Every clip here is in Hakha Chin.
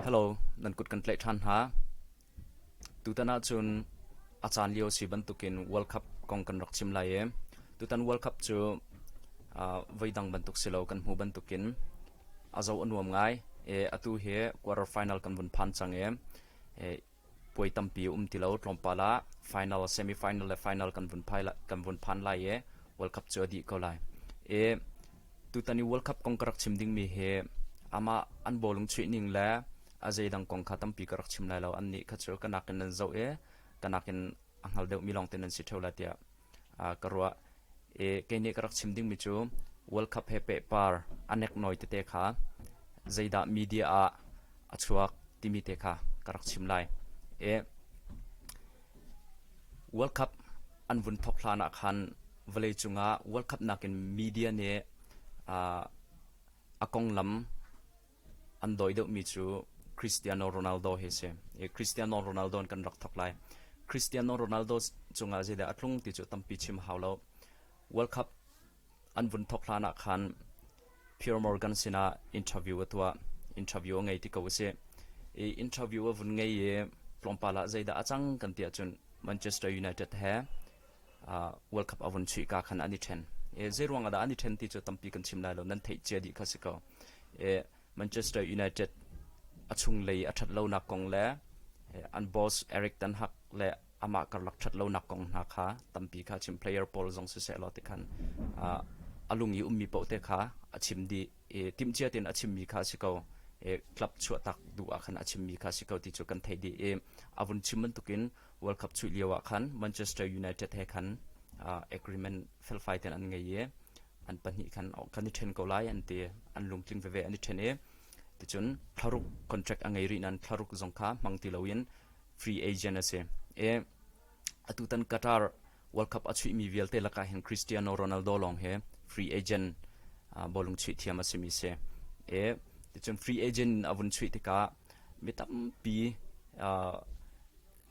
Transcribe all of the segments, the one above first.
Hello, nan kut kan tlaih ṭhan hna. Tutan ahcun a caan lio si bantukin World Cup kong kan rak chim lai i tutan World Cup cu uh, voidang bantuk si lo kan hmu bantukin a zo a nuam ngai i atu hi quarter final kan vun phan cang i Puai tampi a um ti lo. Tlawmpal ah final, semi-final le final kan vun, phai lai, kan vun phan lai i World Cup cu a dih ko lai. I tutan i World Cup kong ka rak chim dingmi hi amah an bawlung chuih ning le a zeidang kong kha tampi ka rak chim lai lo. Annih kha cu ka nakin nan zoh i ka nakin a hngal deuhmi lawng te nan si ṭheo lai tiah ka ruah. Kei nih ka rak chim dingmi cu World Cup he pehpar a nek noi tete kha zeidah media ah a chuak timi te kha ka rak chim lai. World Cup an vun thok hlan ah khan vawleicung ah World Cup nakin media nih a konglam An dawi deuhmi cu Cristiano Ronaldo hi a si. Cristiano Ronaldo in kan rak thawk lai. Cristiano Ronaldo cungah zeidah a tlung ti cu tampi chim hau lo. World Cup an vun thawk hlan ah khan Pier Morgan sinah interview a tuah. Interview a ngei ti ko a si. I interview a vun ngei i tlawmpal ah zeidah a cang kan ti ahcun Manchester United he World Cup a vun chuih ka khan an i ṭhen. Zei ruang ah dah an i ṭhen ti cu tampi kan chim lai lo. Nan theih cia dih kha si ko. Manchester United a chunglei a ṭhat lonak kong le an boss Eric Ten Hag le amah karlak ṭhat lonak kong hna kha tampi kha chim. Player pawl zong siseh law ti khan a lung i ummi paoh te kha a chim dih i timhcia tein a chimmi kha a si ko. club chuahtak duh ah khan a chimmi kha a si ko ti cu kan thei dih i a vun chim bantukin World Cup chuih lio ah khan Manchester United he khan agreement felfai ten an ngei i an pahnih khan kan i ṭhen ko lai an ti an lungtling veve an i ṭhen i ticun thlaruk contract a ngei rih nan thlaruk zong kha hmang ti loin free agent a si i atu tan Qatar World Cup a chuihmi vialte lakah hin Cristiano Ronaldo lawng hi free agent bawlung chuih thiam a simi si. E, ticun free agent in a vun chuih tikah mi tampi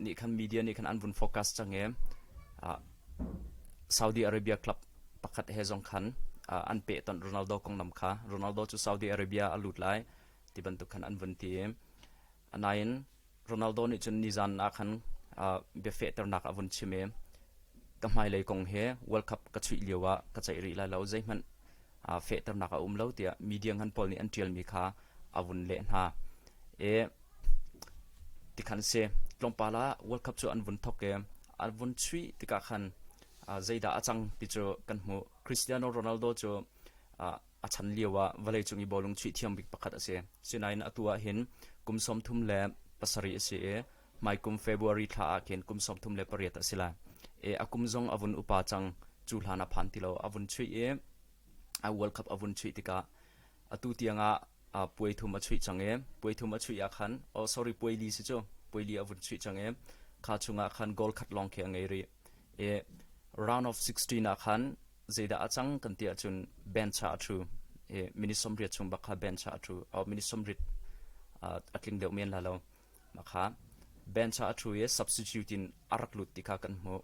nih khan media nih khan an vun focus cang i Saudi Arabia club pakhat he zong khan an peh ton Ronaldo konglam kha. Ronaldo cu Saudi Arabia a lut lai ti bantuk khan an vun ti i Anain Ronaldo nih cun nizan ah khan bia fehternak a vun chim i ka hmailei kong he World Cup ka chuih lio ah ka ceih rih lai lo zeihmanh fehternak a um lo tiah media ngan pawl nih an ṭialmi kha a vun leh hna i tikhan si tlawmpal ah World Cup cu an vun thawk i an vun chuih tikah khan zeidah a cang ti cu kan hmuh Cristiano Ronaldo cu A chan lioah vawleicung i bawlung chuih thiam bik pakhat a si. Sinain atu ah hin kum sawmthum le pasarih a si i hmaikum February thla ah khin kum sawmthum le pariat a si lai. E, a kum zong a vun upa cang. Cu hlan a phan ti lo. A vun chuih i a World Cup a vun chuih tikah atu tiangah uh, puai thum a chuih cang i puai thum a chuih ah khan oh sorry puai li si cu puai li a vun chuih cang i kha chungah khan goal khat lawng khi a ngei rih i round of 16 ah khan zeidah a cang kan tiah cun band cha a thu i minute sawmriat chung bak kha band cha a thu au minute sawmrit a tling deuh men la lo mah kha band cha a thu i substitute in a rak lut ti kha kan hmuh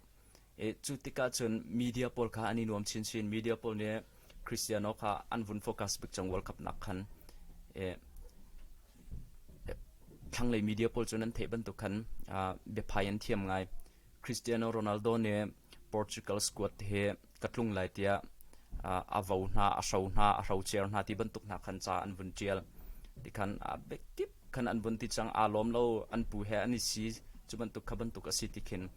i cu tikah cun media pawl kha an i nuam chinchin media pawl nih Cristiano kha an vun focus bik cang World Cup nak khan e thlanglei media pawl cu nan theih bantuk khan biaphai an thiam ngai Cristiano Ronaldo nih Portugal squad hi ka tlung lai tiah a vo hna, a hro hna, a hrocer hna ti bantuk hna khan ca an vun ṭial. Ti khan a biakip khan an vun ti cang. Aa lawm lo, an pu he an i si. Cu bantuk kha bantuk a si ti khin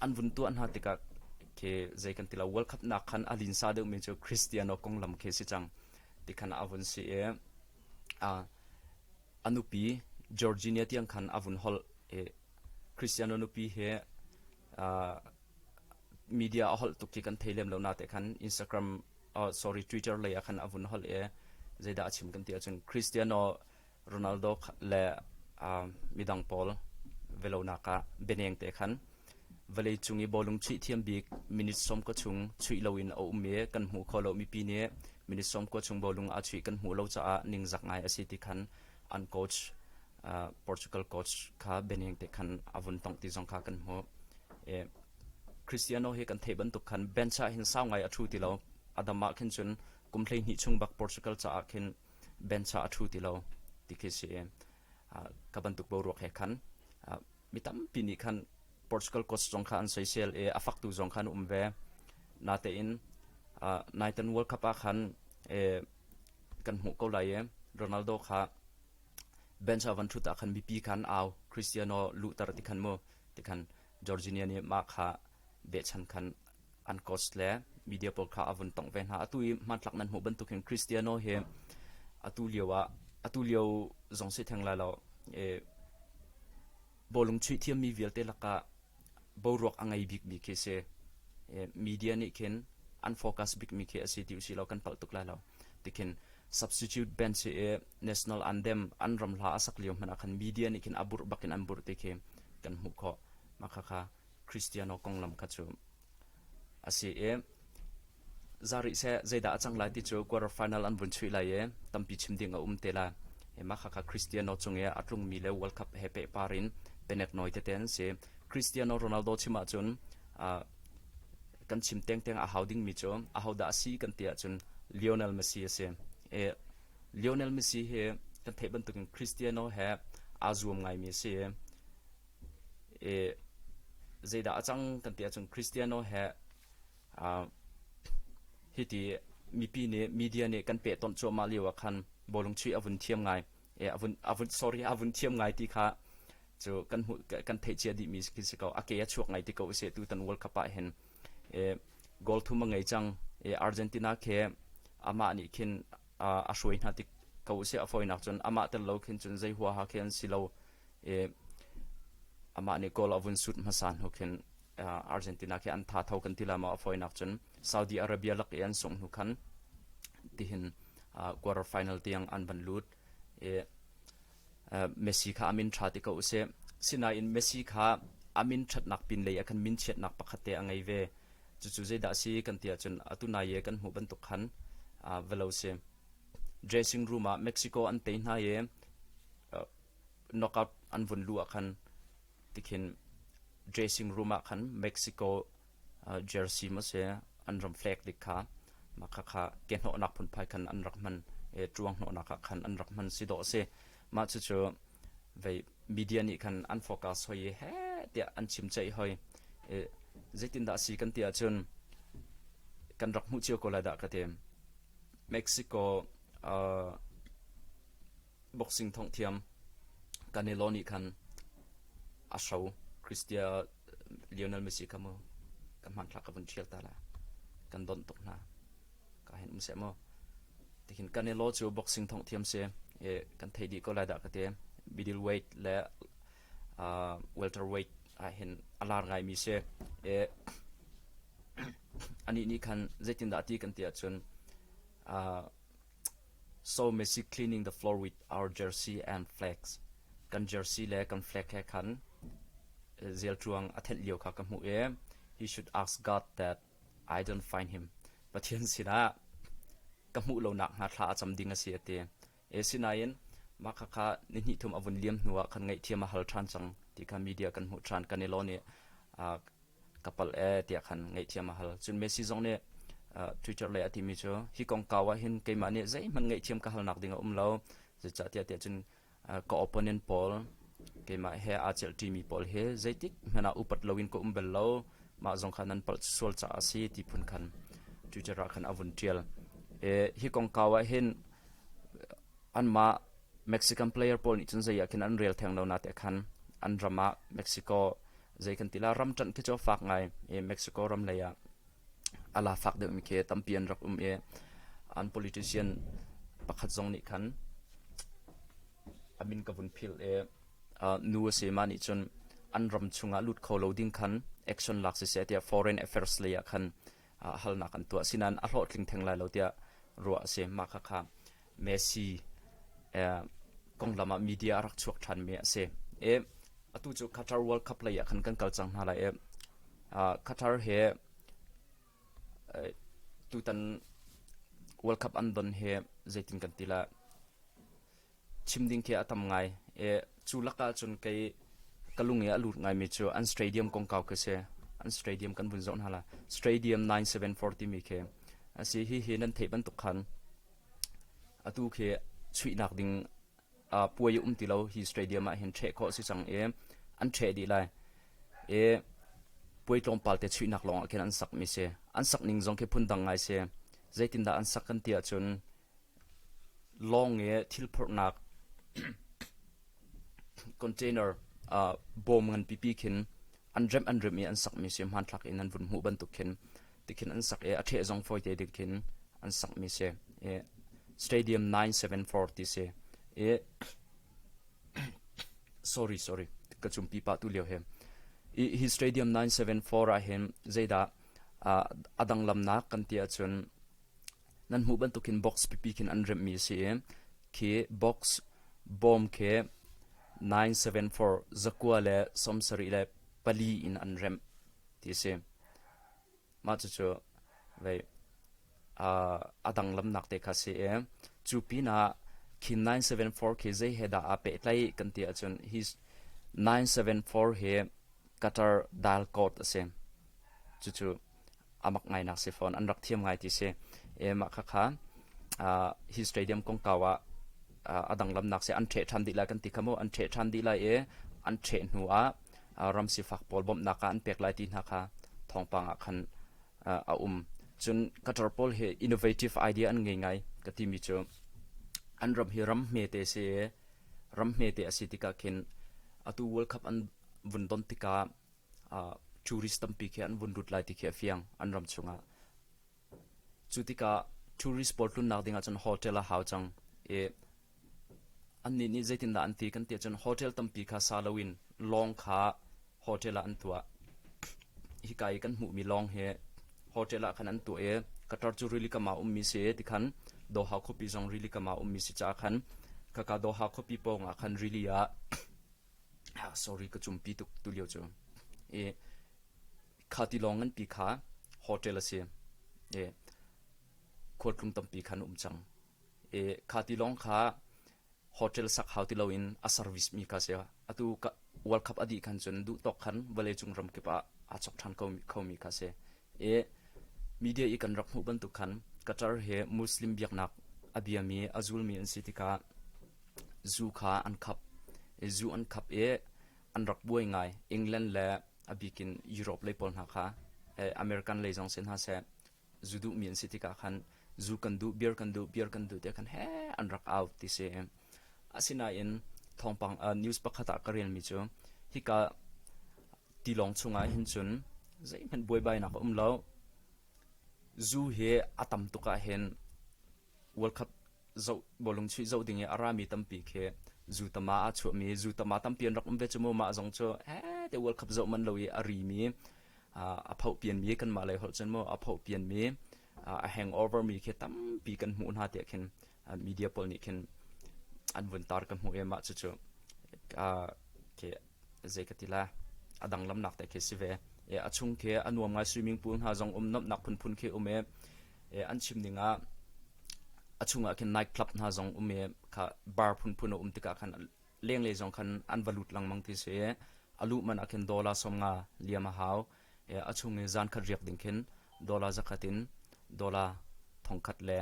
an vun tuah hna tikah khi zei kan ti lo. World Cup nak khan a linsa deuhmi cu Cristiano konglam khi si cang. Ti khan a vun si i A nupi Georginia tiang khan a vun holh i Christiano nupi hi uh, media a holh tuk i kan thei lem lo na te khan Instagram uh, sorry Twitter lei ah khan a vun holh i zeidah a chim kan ti ahcun Cristiano Ronaldo le uh, midang pawl velonak ah beneng te khan Vawleicung i bawlung chuih thiam bik minute sawm kua chung chuih loin a um i kan hmuh khawh lomi pi nih minute sawm kua chung bawlung aa chuih kan hmuh lo caah ningzak ngai a si ti khan an coach uh, Portugal coach kha Bening te khan a vun tongh ti zong kha kan hmuh. E, Cristiano hi kan theih bantuk khan bench ah hin sau ngai a thu ti lo. Adam ah khin cun kum hlei hnih chung bak Portugal caah khin bench ah a thu ti lo ti khi si. Uh, ka bantuk bo ruak he khan uh, Mi tampi nih khan Portugal coach zong kha an soisel i a faktu zong kha an um ve. Natein Nathan World Cup ah khan kan hmuh ko lai i Ronaldo kha bench ah van thut ah khan mipi khan au Cristiano luhter ti khan mu ti khan Jorginho nih mah kha behchan khan an coach le media pawl kha a vun tongh ve hna atu i hmantlak nan hmuh bantuk hin Cristiano hi atu lio ah atu lio zong si theng lai lo e, bolung chuih thiammi vialte lakah boruak a ngei bikmi khi si e, media nih khin an focus bikmi khi asi ti usilo kan palh tuk lai lo tikhin substitute bench si e national anthem an ram hla a sak lio hmanh ah khan media nih khin a burh bakin an burh ti khi kan hmuh kho ma kha kha Christiano konglam kha cu a si i za rih seh zeidah a cang lai ti cu quarter final an vun chuih lai i tampi chim ding a um te lai e mah kha Cristiano chung i a tlungmi le World Cup he pe par in penek noi tete an si Cristiano Ronaldo chim ahcun kan chim tengteng a hau dingmi cu a hodah a si kan ti ahcun Lionel Messi a si e Lionel Messi hi kan theih bantukin Cristiano he aa zuam ngaimi a si i Zeidah a cang kan ti ahcun Kristiano he hiti mipi nih media nih kan pehtonh cuahmah lio ah khan bawlung chuih a vun thiam ngai, a vun sorry a vun thiam ngai ti kha cu kan hmuh kan theih cia dihmi khi si ko. A ke a chuak ngai ti ko usih tutan World Cup ah hin. Goal thum a ngei cang. Argentina khi amah nih khin a hruai hna tik ko usih a fawinak cun amah tel lo khin cun zei huaha khi an si lo i amah nih goal a vun sut hmasa hnu khin Argentina khi an tha tho kan ti lama a fawinak cun Saudi Arabia lak i an sungh hnu khan tihin quarter final tiang an van lut i Messi kha a min ṭha ti ko u sih. Sinain Messi kha a min ṭhatnak pinlei ah khan min chiatnak pakhatte a ngei ve. Cucu zeidah a si kan ti ahcun atu nai i kan hmuh bantuk khan va lo si. Dressing room ah Mexico an tei hna i knockout an vun luh ah khan tikhin dressing room ah khan Mexico jersey maw an ram flag dik kha mah khakha ke hnawhnak phunphai khan an rak hman e tuang hnawhnak ah khan an rak hman si dawh si mah cucu vei media nih khan an focus hoi he tiah an chim chei hoi e zeitin dah si kan ti ahcun kan rak hmuh cio ko lai dah ka ti mexico uh, boxing thongh thiam Canelo nih khan a hro Christian Lionel Messi kha mu kan hmanthlak ka vun ṭhial ta la kan donh tuk hna ka hin um se mu tihin Canelo cu boxing thongh thiam se kan thei dih ko lai dah ka te middleweight le welterweight ah hin a lar ngai mi se anih nih khan zeitindah ti kan ti ahcun So Masic cleaning the floor with our jersey and flags. Kan jersey le kan flag he khan Zeltruang a thenh lio kha ka hmuh i he should ask God that I don't find him. Pathian sinah ka hmuh lonak hna thla a cam ding a si a ti. E sinain mah kha kha ni hnih thum a vun liam hnu ah khan ngaih thiam a hal ṭhan cang ti kha media kan hmuh ṭhan kan i lon i ka pal ee tiah khan ngaihthiam a hal. Cun Messi zong nih Twitter lei a timi cu hi kongkau ah hin keimah nih zeihmanh ngaihthiam ka halnak ding a um lo. Zeicahtiah tiah cun ka opponent pawl keimah he aa celhṭimi pawl hi zeitik hmanh ah upat loin ka um bel lo. Mah zong kha nan palh sual caah a si ti phun khan Twitter ah khan a vun ṭial. hi kongkau ah hin anmah Mexican player pawl nih cun zei ah khin an rel theng lo na te khan an ram ah Mexico zei kan ti la ram ṭanh khi cu fak ngai i Mexico ram lei ah a la fak deuhmi khi tampi an rak um i an politician pakhat zong nih khan a min ka vun phil i nu a si ma nih cun an ram chungah lut kho lo ding khan action lak siseh tiah foreign affairs lei ah khan ah halnak an tuah sinain a hlawhtling theng lai lo tiah ruah a si. Mah khakha Messi konglam ah media a rak chuak ṭhanmi a si. I atu cu Qatar World Cup lei ah khan kan kal cang hna lai i Qatar he tutan World Cup an don hi zeitin kan ti lai? chim ding khi a tam ngai. E, cu lakah cun kei ka lung i a lut ngaimi cu an stadium kongkau khi si. An stadium kan vun zoh hna la. Stadium 9740 timi khi a si hihi nan theih bantuk khan atu khi chuihnak ding uh, puai a um ti lo hi stadium ah hin ṭheh khawh si cang i an ṭheh dih lai i puai tlawmpal te chuihnak lawngah khin an sak mi si an sak ning zong khi phun dang ngai si zeitindah an sak kan ti ahcun Lawng i thilphurhnak container bawm nganpipi khin an remh an remh i an sakmi si. Hmanthlak in an vun hmuh bantuk khin tikhin an sak i a ṭheh zong fawite ding khin an sakmi si. I Stadium 974 ti si. I sorry, sorry, ka cum pipa tu lio hi. I hi Stadium 974 ah hin zeidah a dang lamnak kan ti ahcun nan hmuh bantukin box pipi khin an remhmi a si i khi box bawm khi 974 zakua le sawmsarih le pali in an remh ti a si mah cucu vei a dang lamnak te kha si i cu pinah khi 974 khi zei he dah aa pehtlai kan ti ahcun hi 974 hi qatar dal court a si cucu amak ngainak si fawn an rak thiam ngai ti si e mah khakha hi stadium kongkau ah adang lamnak se an ṭheh ṭhan dih lai kan ti khamu an ṭheh ṭhan dih lai e an ṭheh hnu ah ram sifak pawl bawmhnak ah an pek lai ti hna kha thawngpang ah khan a um cun qatar pawl hi innovative idea an ngei ngai ka timi cu an ram hi ram hme te si ram hme te asi tika khin atu world cup an vun don tika tourist tampi khi an vun lut lai ti khi a fiang an ram chungah cu tikah tourist pawl tlunnak dingah cun hotel a hau cang i annih nih zeitindah an ti kan tiah cun hotel tampi kha sa loin lawng kha hotel ah an tuah hika i kan hmuhmi lawng hi hotel ah khan an tuah i katar cu rili kama ummi si ti khan doha khuapi zong rili kama ummi si ca khan kaka doha khuapi pawngah khan rili ah ah sorry ka cumpi tuk tulio cu i kha tilawng nganpi kha hotel a si i khualtlung tampi khan um cang i kha tilawng kha hotel sak hau ti loin a service mi kha si atu world cup adi khan cun duh tawk khan vawleicung ram kip ah aa chok ṭhan kho mi kha si i media i kan rak hmuh bantuk khan qatar hi muslim biaknak a biami a zulmi an si tikah Zu kha an khap. Zu an khap i an rak buai ngai. England le a bik in Europe lei pawl hna kha American lei zong si hna seh, zu duhmi an si tikah khan zu kan duh, beer kan duh, beer kan duh tiah khan heh an rak au ti si. Asinain thawngpang news pakhat ah ka relmi cu hika tilawng chungah hin cun zeihmanh buaibainak a um lo. Zu hi a tam tuk ahhin World Cup zoh bawlung chuih zoh ding i a rami tampi khi zutama a chuahmi zutama tampi an rak um ve cu mu mah zong cu te World Cup zoh man lo i a rimi a phohpianmi kanmah lei holh cun mu a phohpianmi a hangover mi khi tampi kan hmuh hna tiah khin media pawl nih khin an vun tar ka hmuh i mah cucu ke zei ka ti la a dang lamnak te khi si ve e a chung khi a nuam ngai swimming pool hna zong um nomnak phunphun khi um e e an chim ning ah a chungah khin night club hna zong um e kha bar phunphun a um tika khan leng le zong khan an va lut langmang ti se a lu man a khin dollar som nga liam a hau e a chung i zan khat riak ding khin dollar zakhatin dollar thongkhat le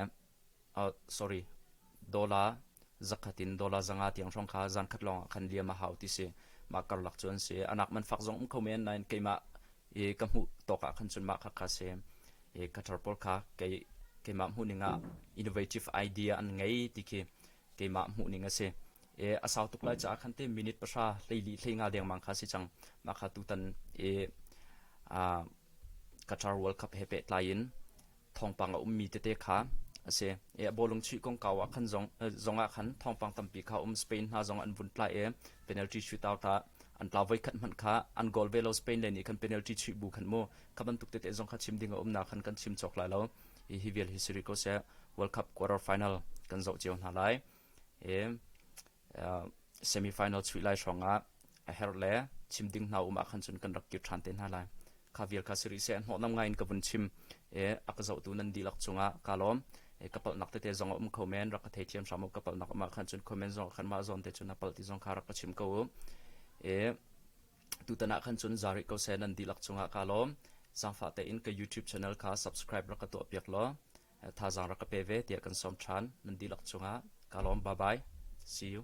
dollar zakhat in dollar zanga tiang hrawng kha zankhat lawng ah khan liam a hau ti si. Mah karlak cu an si. Anak man fak zong um kho men nain keimah i ka hmuh tawk ah khan cun mah kha ka si. I ka tar pawl kha kei keimah hmuhning ah innovative idea an ngei ti khi keimah hmuhning a si. I a sau tuk lai caah khan te minute pahra hleili hleinga dengmang kha si cang. Mah kha tutan i ka tar World Cup he peh tlai in thawngpang a ummi tete kha a si. I a bawlung chuih kongkau ah khan zong ah khan thawngpang tampi kha um Spain hna zong an vun tlai i penalty shootout ah an tlau voi khat hmanh kha an goal ve lo Spain le nih khan penalty chuih bu khan mu kha bantuk tete zong kha chim ding a umnak khan kan chim chawk lai lo i hi vial histori ko seh World Cup quarter final kan zoh cio hna lai i semi-final chuih lai hrawngah a her le chim ding hna um ah khan cun kan rak kir ṭhan te hna lai kha vial kha siri se hnawh nam ngaiin ka vun chim e a ka zohtu nan dilak chungah ka lawm e ka palhnak tete zong um kho men rak ka thei thiam hram ka palhnak um ah khan cun comment zong khan mah zon te cun a palh ti zong kha rak ka chim ko e tutanah khan cun zari ko se nan dilak chungah ka lawm sangfa te in ka youtube channel kha subscribe rak ka tuah piak law thazaang rak ka pe ve tiah kan sawm ṭhan. Nan dihlak cungah kaa lawm. Bye bye. See you.